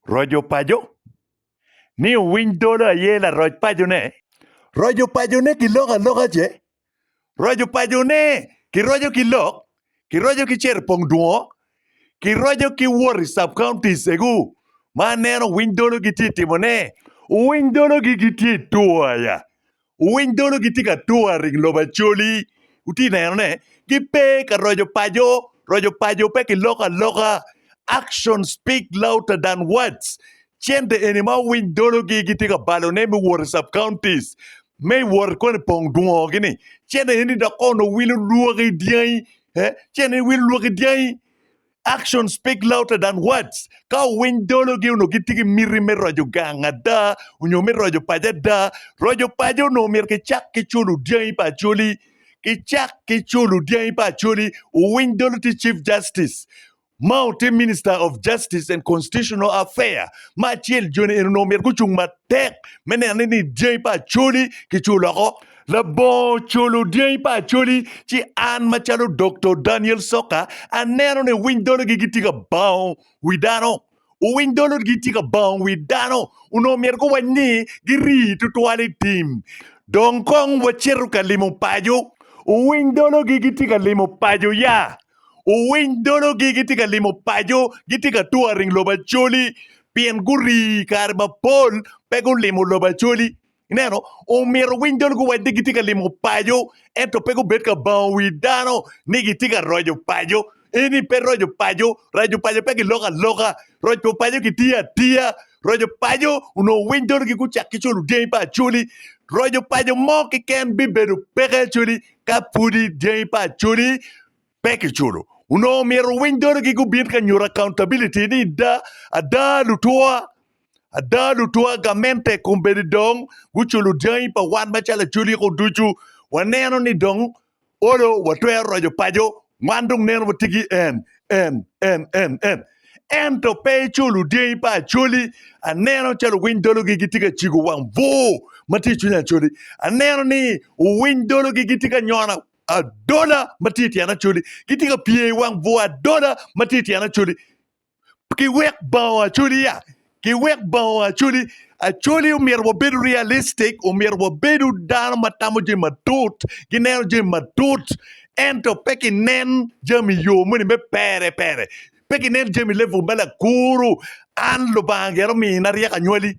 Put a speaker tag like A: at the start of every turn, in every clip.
A: Roco paco ni owiny dolo aye laroc pacone. Roco paco ni kiloko aloka ce. Roco paco ni kiroco ki lok, kiroco ki cito i pong dwongo, kiroco ki wot i sub counties egu ma aneno owiny dolo gitye timone. Owiny dolo gi gitye i tur aya Wuwiny dolo gitye ka tur aring lobo Acholi, wutye ka neno ne? Gipe ka roco paco, roco paco pe ki loko aloka. Action speak louder than words. Cente eni ma wuwiny dolo gi gitye ka balo ne me wot i sub counties me wot koni pong dwongo gi ni cente eni dok kono wilo lwaki dyangi eh cente eni wilo lwaki dyangi. Actions speak louder than words. Ka owiny dologi onongo gitye ki miti me roco gang ada onyo me roco paco ada. Roco paco onongo myero kicak ki culo dyangi pa Acholi. Kicak ki culo dyangi pa Acholi. Owiny dolo tye Chief Justice. Mao tye Minister of Justice and Constitutional Affair. Me acel, joni eni onongo myero gucung matek me neno ni dyangi pa Acholi kiculo woko. Labongo ocolo dyangi pa Acholi ci an macalo Doktor Daniel Soka aneno ni owiny dologi gitye ka bango wi dano. Owiny dologi gitye ka bango wi dano. Onongo myero guwac ni giri tutwal i tim. Dong kong wacito ka limo paco. Owiny dologi gitye ka limo paco ya. Owiny dologi gitye ka limo paco, gitye ka touring lobo Acholi pien guri kare mapol pe gulimo lobo Acholi. Ineno, omyero owiny dong guwac ni gitye ka limo paco, ento pe gubed ka bango wi dano ni gitye ka roco paco. Eni pe roco paco. Raco paco pe kiloko aloka. Roco paco kitiyo atiya. Roco paco onongo winy donogi gucak ki cwalo dyangi pa Acholi. Roco paco mo keken bibedo peke Acholi ka pudi dyangi pa Acholi Pe kiculo. Onongo myero owiny dorigi gubin ka nyuto accountability ni da, ada lutwa, ada lutwa gamente kombeddi dong guculo dyangi pa wan macalo aculiko ducu. Waneno ni dong olo watwero roco paco, wan dong neno watye ki en, en, en, en, en. Ento pe iculo dyangi pa Acholi. Aneno calo owiny dologi gitye ka cigo wang bur ma tye i cwiny Acholi. Aneno ni owiny dologi gitye ka nyona Adola ma tye i tyen Acholi gitye ka pye i wang bur adola ma tye i tyen Acholi. Kiwek bongo Acholi ya, kiwek bongo Acholi. Acholi omyero wabedo realistic, omyero wabedo dano ma tamo jami matut, gineno jami matut, ento pe kinen jami yo moni me pere pere, pe kinen jami level me lakuru. An Lubanga gire omina ryeko anywali,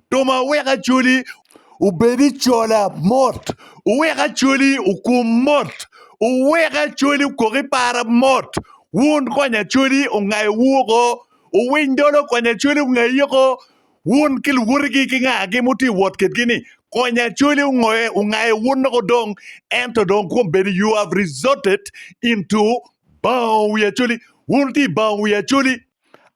A: Roma wek acoli obed i cola mot, wek acoli okum mot, wek acoli okok i para mot. Wun kony acoli ongayo wu oko, owiny dolo kony acoli ongayi oko. Wun ki luwotigi ki ngagi muti wot kitgi ni kony acoli ongoye ongayo wun oko dong ento dong kwom bedo you have resorted into bango wi acoli wun ti bango wi acoli.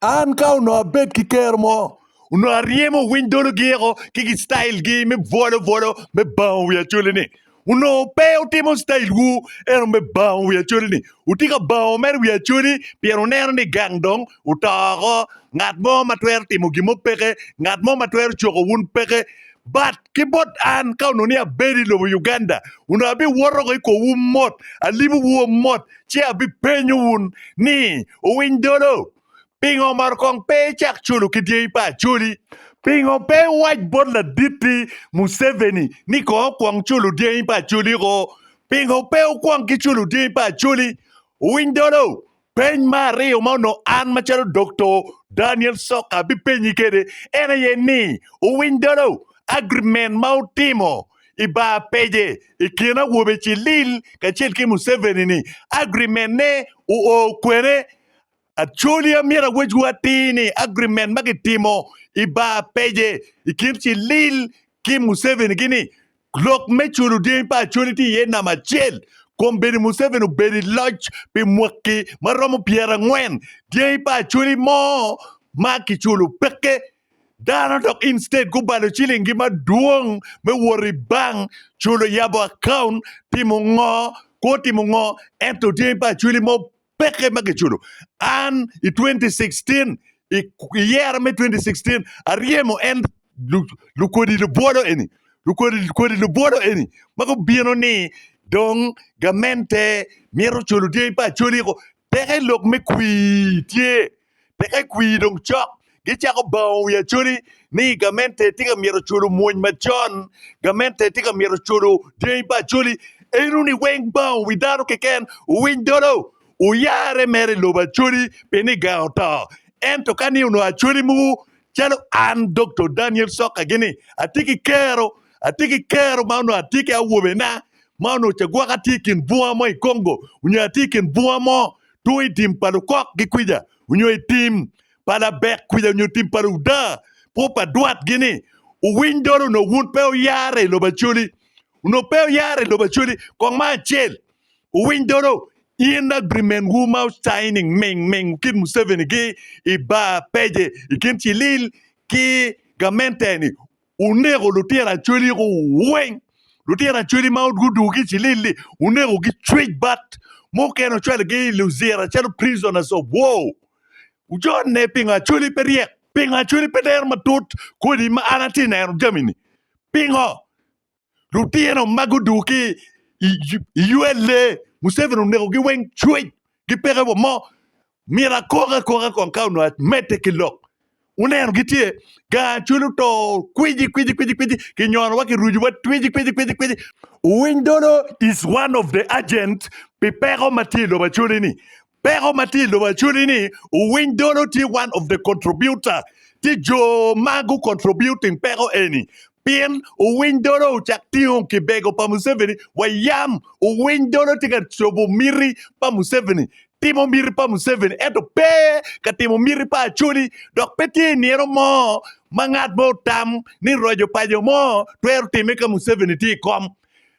A: An ka onongo abed ki kero mo, onongo aryemo owiny dolo giyeko ki gi style gi me bwolo bwolo me bango wi acholi ni. Onongo pe utimo style wu eno me bango wi acholi ni. Utye ka bango mere wi acholi pien wuneno ni gang dong oto oko. Ngat mo ma twero timo gin mo peke. Ngat mo ma twero coko wun peke. But ki bot an ka onongo ni abedo i lobo Uganda, onongo abiwoto woko i kowu mot, alibo wu mot Ci abipenyo wun ni, Wuwiny dolo? Pingo omaro kong pe icak culo ki dyangi pa Acholi? Pingo pe iwac bot laditti Museveni ni kong okwong culo dyangi pa Acholi-ko? Pingo pe wukwong ki culo dyangi pa Acholi? Wuwiny dolo? Peny me aryo ma onongo an macalo Dokto Daniel Soka abipenyi kwede en aye ni, Wuwiny dolo? Agreement ma wutimo i bar pece i kin awobe Cilil kacel ki Museveni ni agreement ne oo kwene. Acholi amyero awecwu atir ni agreement ma kitimo i bar pece i kin Cilil ki Museveni ki ni lok me culo dyangi pa Acholi tye iye namba acel. Kombeddi Museveni obedo i loc pi mwaki ma romo pyerangwen, dyangi pa Acholi mo ma kiculo peke. Dano dok instead gubalo ciling gi madwong me wot i bank culo yabo account timo ngo kwo timo ngo ento tye pa cwili mo peke ma giculo an i 2016 i yero me 2016 aryemo en lukodi lubwolo eni lukodi lubwolo eni ma gubino ni dong gamente mito culo tye pa cwili peke lok me kwir tye. Peke kwir dong cok. Gicako bango wi Acholi ni gamente tye ka myero culu mwony macon, gamente tye ka myero culu dyangi pa Acholi. En wuni weng bango wi dano keken owiny dolo, oyare mere i lobo Acholi pi niga oto. Ento ka ni onongo Acholi muku calo an Doktor Daniel Soka gini atye ki kero, atye ki kero ma onongo atye ki awobena ma onongo cagwaka tye i kin bunga mo i Congo onyo atye i kin bunga mo two i tim pa lukok ki kwica onyo i tim pa labek kwica onyo tim pa luda pwo pa dwat gi ni owiny dol onok wun pe oyare i lobo acoli onok pe oyare i lobo acoli kong ma acel owiny dolo in agreement wu ma signing ming ming kit museveni gi i bar page i kin cilil ki gamente ni Wuneko lutino acwali weng, lutino acwali ma gudugo ki i cilili, wunekogi cwic bat, mukene wucwalogi i Luzira calo prisoners of war. Wujonne pingo acwali pe ryek? Pingo acwali pe dero matut kodi ma an atye neno jami-ni? Pingo? lutino ma guduku ki i ULA museveni oneko gi weng cwec ki peke wa mo myero akok akoka kong ka onongo amede ki lok wuneno gitye gar acwele oto kwiji kwiji kwiji kwiji ki nyono wa ki rucu wa kwiji kwiji kwiji kwiji owiny dolo is one of the agent pi peko matye i lobo acwale ni Peko ma tye i lobo actually ni owiny dolo tye one of the contributor tye jo ma gu contributing peko eni pien owiny dolo ocak tingo kibego pa Museveni wa yam owiny dolo tye ka cobo miti pa Museveni timo miti pa Museveni ento pe ka timo miti pa Acholi dok pe tye inino mo ma ngat mo otam ni roco paco mo twero time ka Museveni tye i kom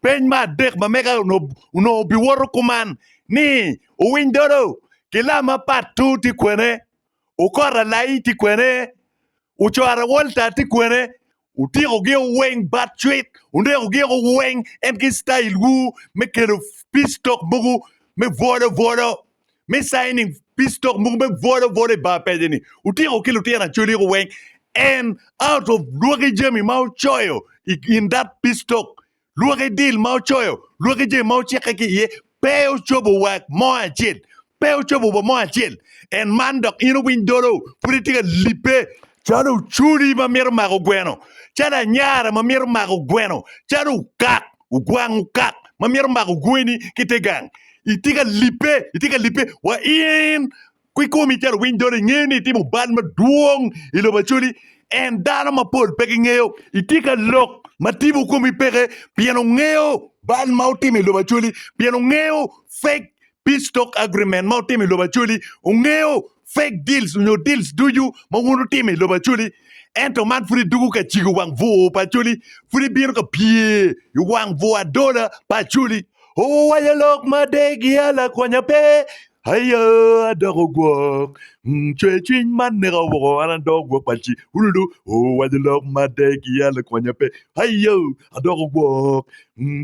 A: Peny me adek ma mega onongo obiwoto kuman ni, Owiny dodo ki lam ma Patu tye kwene? Okora Lai tye kwene? Ocora Walter tye kwene? Wutyeko gio weng bat cwit, wuneko gio weng en ki style wu me kelo peace talk mogo me bwolo bwolo. me signing peace talk mogo me bwodo bwodo i bar pejeni utiko ki lutino acoli ko weng and out of lwaki jami ma ucoyo i- in that peace talk lwaki deal ma ucoyo lwaki jami ma ucikke ki iye pe ucobo wa mo acel pe ucobo wa mo acel and man dok in uwiny dolo pud itye ka lipe calo culi ma mito mako gweno calo anyara ma mito mako gweno calo okak ogwang okak ma myero omako gweni ki te gang itye ka libbe itye ka libbe wa in ki komi calo owiny dolo ingeyo ni itimo bal madwong i lobo Acholi en dano mapol pe gingeyo itye ka lok ma tipo komi peke pien ongeyo bal ma utimo i lobo Acholi pien ongeyo fake peace talk agreement ma utimo i lobo Acholi ongeyo Fake deals onyo deals ducu ma wun wutimo i lobo Acholi, ento man pud idwogo ka cigo wang bwor pa Acholi, pud ibino ka pye i wang bwor adola pa Acholi. Owaco lok ma degia lakwonya pe, Aya adoko gwok, cwer cwiny man neka woko, an adoko gwok pa ci Ululu. Owaco lok ma degia lakwonya pe, Aya adoko gwok,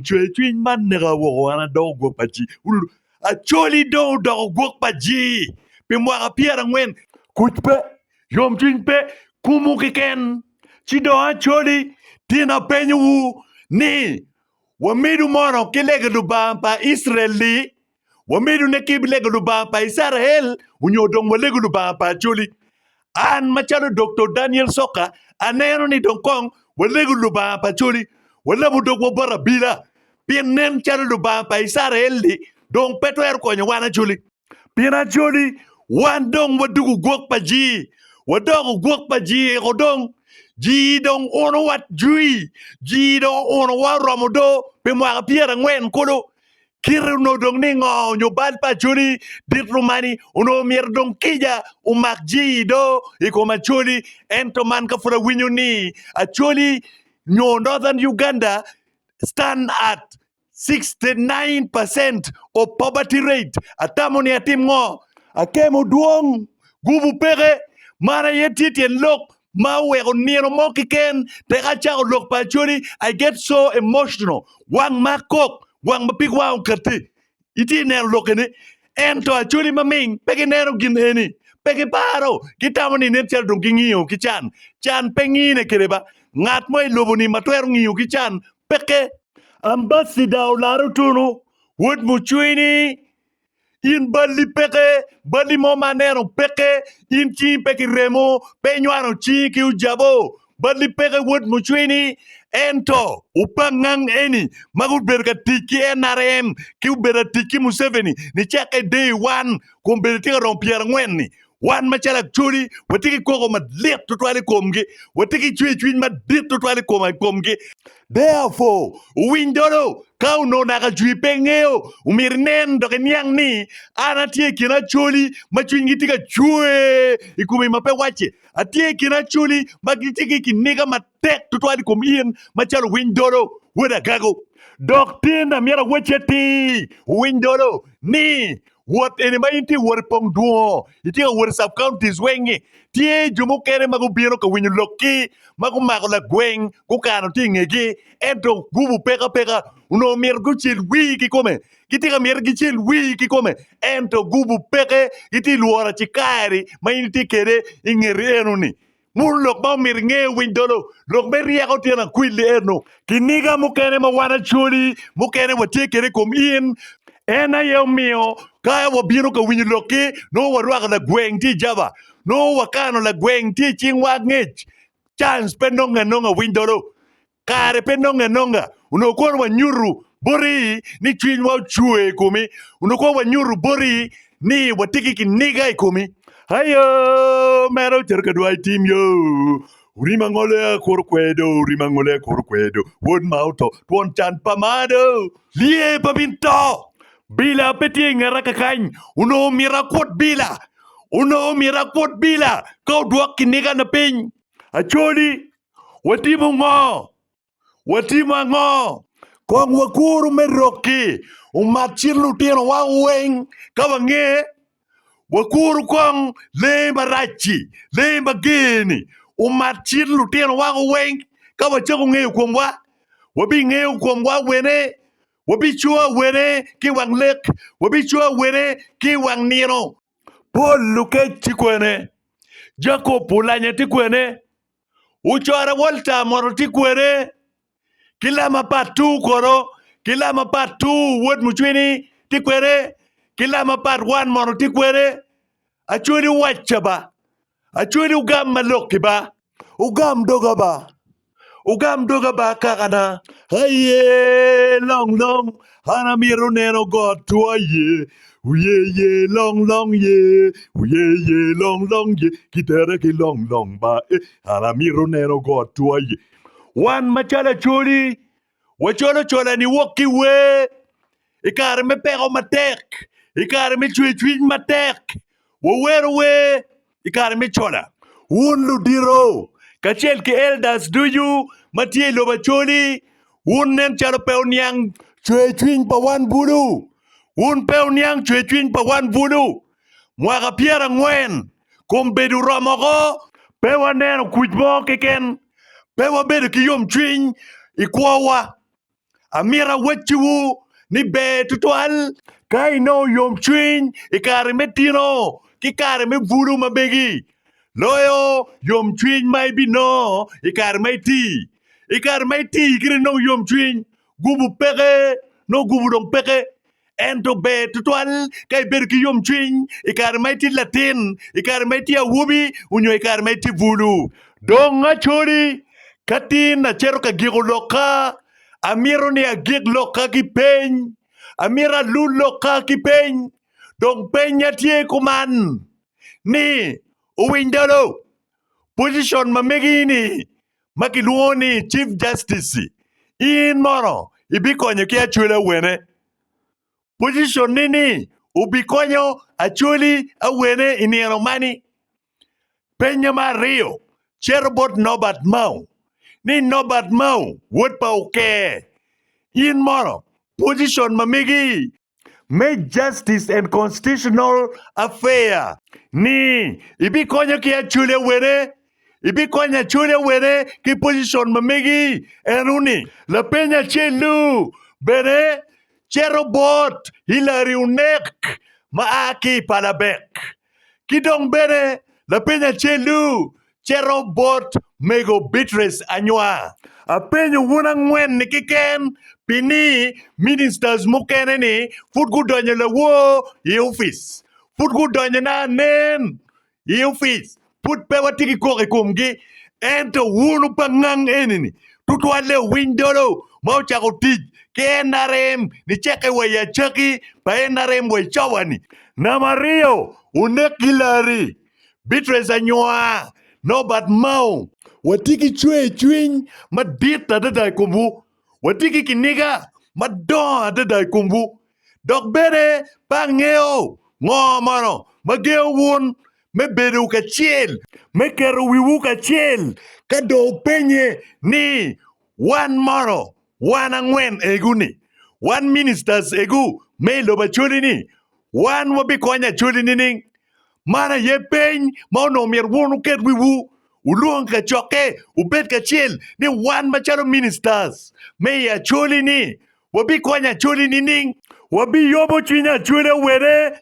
A: cwer cwiny man neka woko, an adoko gwok pa ci Ululu. Acholi dong odoko gwok pa jii pi mwaka pyerangwen. Kuc pe, yomcwiny pe, kumwu keken. Ci dong Acholi, tin apenyowu ni, Wamidu mono ki lege Lubanga pa Icrael-li? Wamidu ne ki lege Lubanga pa Icrael, onyo dong walegu Lubanga pa Acholi? An macalo Doktor Daniel Soka aneno ni dong kong walegu Lubanga pa coli, walabu dogwa bot abila, pien nen calo Lubanga pa Icrael-li dong pe twero konyo wan acoli. Pien acoli wan dong waduku gwok pa jii, wadoko gwok pa jii-iko dong, jii dong uno watjwi, jii dong uno wa oromo do pi mwaka pyerangwen kulu, Kite onongo dong ningo nyo bal pa Acholi dit rumani onongo myero dong kica omak jii do i kom Acholi ento man ka pud awinyo ni Acholi nyo Northern Uganda stand at 69 percent of poverty rate atamo ni atim ngo? Akemo dwong, gubu peke, mano aye tye tyen lok ma oweko nino mo kiken tek acako lok pa Acholi I get so emotional wang ma kok wang ma pig wang okati iti neno lokke ni ento Acholi ma ming pe gineno gin eni pe giparo gitamo ni nen calo dong gingiyo ki can can pe ngine kede ba ngat mo I lobo ni ma twero ngiyo ki can peke Ambassador olaro tunu wod mucwini In balli peke, balli mo ma aneno peke, in cingi pe ki remo, pe inywano cingi ki ojabo. Balli peke wod mucwini. Ento opangngang eni ma gubedo ka tic ki NRM ki obedo atic ki Museveni nicakke day one kun bedo tye ka romo pyerangwen-ni Wan macalo Acholi watye ki koko madit tutwal i komgi, watye ki cwercwiny madit tutwal i kom- i komgi. Therefore, wuwiny dolo, ka onongo naka Achwi pe ngeyo, omyero inen dok iniang ni an atye i kin Acholi ma cwinygi tye ka cwer i komi ma pe wacce. Atye i kin Acholi ma gitye ki kiniga ma tek tutwal i kom in macalo winy dolo, wod agago. Dok tye ne myero awec atir winy dolo ni wot eni ma in tye ka wot i pong dwongo, itye ka wot i sub counties weng-ngi, tye jo mukene ma gubino ka winyo lokki ma gumako lagweng gukano tye i ngegi ento gubu peko apeka onongo myero gucel wii ki kome, gitye ka myero gicel wii ki kome ento gubu peke gitye ka lworo acikari ma in itye kwede i ngeti eno-ni. Munu lok ma omyero inge owiny dolo, lok me ryeko tyen akwili eno. Kiniga mukene ma wan Acholi mukene watye kede i kom in, en aye omiyo ka wabino ka winyo lokki nongo warwako lagweng tye i jaba, nongo wakano lagweng tye i cingwa angec. Chance pe nonge anonga winy dolo. Kare pe nonge anonga, onongo kono wanyutu boti ni cwinywa ocwe i komi, onongo kono wanyutu boti ni watye ki kiniga i komi. Ayo, mere ocito ka dwai tim yo, orim angole a kuru kwedo, orim angole a kuru kwedo, wod ma oto, twon can pa malo, lye pa bin to, bila pe tye i ngeta kakany, onongo myero akwot bila, onongo myero akwot bila ka odwok kinigana piny. Acholi, Watimo ngo? Watimo ango? Kong wakuru me rokki umak cit lutinowa weng ka wange. Wakuru kong lee marac-ci, lee mager-ni, umak cit lutinowa weng ka wacako ngeyo komwa. Wabingeyo komwa wene? Wabicowa wene ki i wang lek? Wabicowa wene ki i wang nino? Pol lukec ti kwene? Jakop olanya ti kwene? Ocorre Walter moto ti kwede ki lam apat two kodo ki lam apat two wod mucwini ti kwede ki lam apat one moto ti kwede Acweli owacca ba Acweli ogam ma lokki ba Ogam doga ba Ogam doga ba kakana Aye long long An amito neno got two aye. Uye ye long long ye, uye ye long long ye, kitere ki long long ba e. An amito neno got two aye. Wan macalo acoli, wacolo cola ni wok ki wer i kare me peko matek, i kare me cwercwiny matek, wawero wer i kare me cola. Wun ludito kacel ki elders ducu ma tye i lobo Acholi, wun nen calo pe wuniang cwercwiny pa wan bulu. Wun pe wuniang cwercwiny pa wan bulu. Mwaka pyerangwen kombeddi oromo oko. Pe waneno kuc mo keken. Pe wabedo ki yomcwiny i kwowa. Amito awacciwu ni ber tutwal ka inongo yomcwiny i kare me tino ki kare me bulu ma megi, loyo yomcwiny ma ibinongo i kare ma iti. I kare ma iti kit inongo yomcwiny, gubu peke, nongo gubu dong peke. Ento ber tutwal ka ibedo ki yomcwiny i kare ma itye latin, i kare ma itye awobi, onyo i kare ma itye bulu. Dong acoli, ka tin acito ka giko lokka, amito ni agik lokka ki peny. Amito alul lokka ki peny. Dong penya tye kuman ni, Owiny dolo, position ma megi-ni ma kilwongo ni Chief Justice, in mono ibikonyo ki acwela wene? Position ni ni obikonyo acweli awene i nino mani? Penye ma aryo cito bot Norbert Mao ni Norbert Mao wod pa Oker, in mono position ma megi me Justice and Constitutional Affairs ni ibikonyo ki Acholi Awene ibikonyo Acholi Awene ki pocicon ma megi eno ni lapeny acel-lu bene cito bot Hillary Onek ma a ki i palabek. Ki dong bene lapeny acel-lu cito bot mego Beatrice Anywa. Apenyo wun angwen-ni keken pi ni ministers mukene-ni pud gudonyo lawor i opic, pud gudonyona anen i opic, pud pe watye ki kok i komgi, ento wunu pangang eni-ni tutwalle owiny dolo ma ocako tic ki NRM nicekke wa i acakki pa NRM wa i cawa-ni. Namba aryo, onek ki Larry, Beatrice Anywar, Norbert Mao. Watye ki cwercwiny madit adada i komwu. Watye ki kiniga madongo adada i komwu. Dok bene pe angeyo ngo mono ma gengo wun me bedo kacel, me keto wiwu kacel ka dong wupenye ni, Wan mono, wan angwen egu-ni, wan ministers egu me i lobo Acholi-ni, wan wabikonyo Acholi nining? Man aye peny ma onongo myero wun wuket wiwu, wulwong kacokke, wubed kacel ni wan macalo ministers me i Acholi-ni, Wabikwanyo acoli nining? Wabiyomo cwiny acoli awene?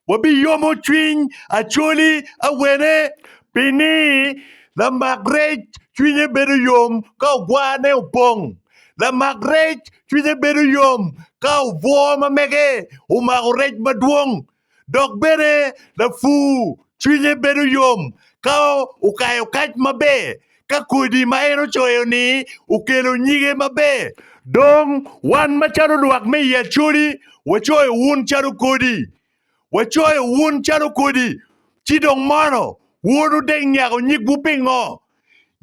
A: Wabiyomo cwiny acoli awene? Pi ni, lamak rec cwinye bedo yom ka ogwarne opong. Lamak rec cwinye bedo yom ka obwor ma mege omako rec madwong. Dok bene lapur cwinye bedo yom ka okayo kac maber ka kodi ma en ocoyo-ni okelo nyige maber. Dong wan macalo lwak me i Acholi wacoyo wun calo kodi, wacoyo wun calo kodi, ci dong mono wun wudek nyako nyigwu pingo?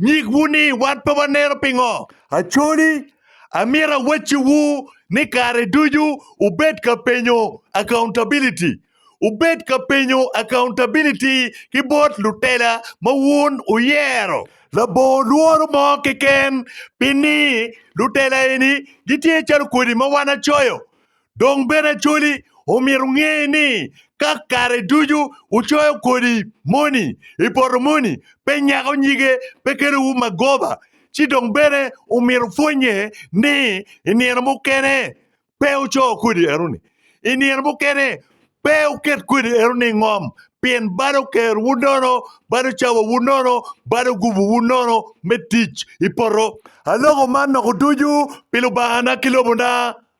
A: Nyigwu ni wan pe wanero pingo. Aconi, amyero awacciwu ni kare ducu wubed ka penyo accountability. Wubed ka penyo accountability ki bot lutela ma wun wuyero. Labongo lworo mo keken pi ni lutela eni gitye calo kodi ma wan acoyo. Dong bene Acholi omyero nge ni ka kare ducu wucoyo kodi moni i poto moni pe nyako nyige pe kelo wu magoba, ci dong bene omyero pwonye ni i nino mukene pe wuco kodi enoni, i nino mukene pe wuket kodi enoni i ngom pien balo ker wu nono, balo cawa wu nono, balo gubu wu nono me tic i poto. Aloko man noko ducu pi Lubanga na ki lobo na.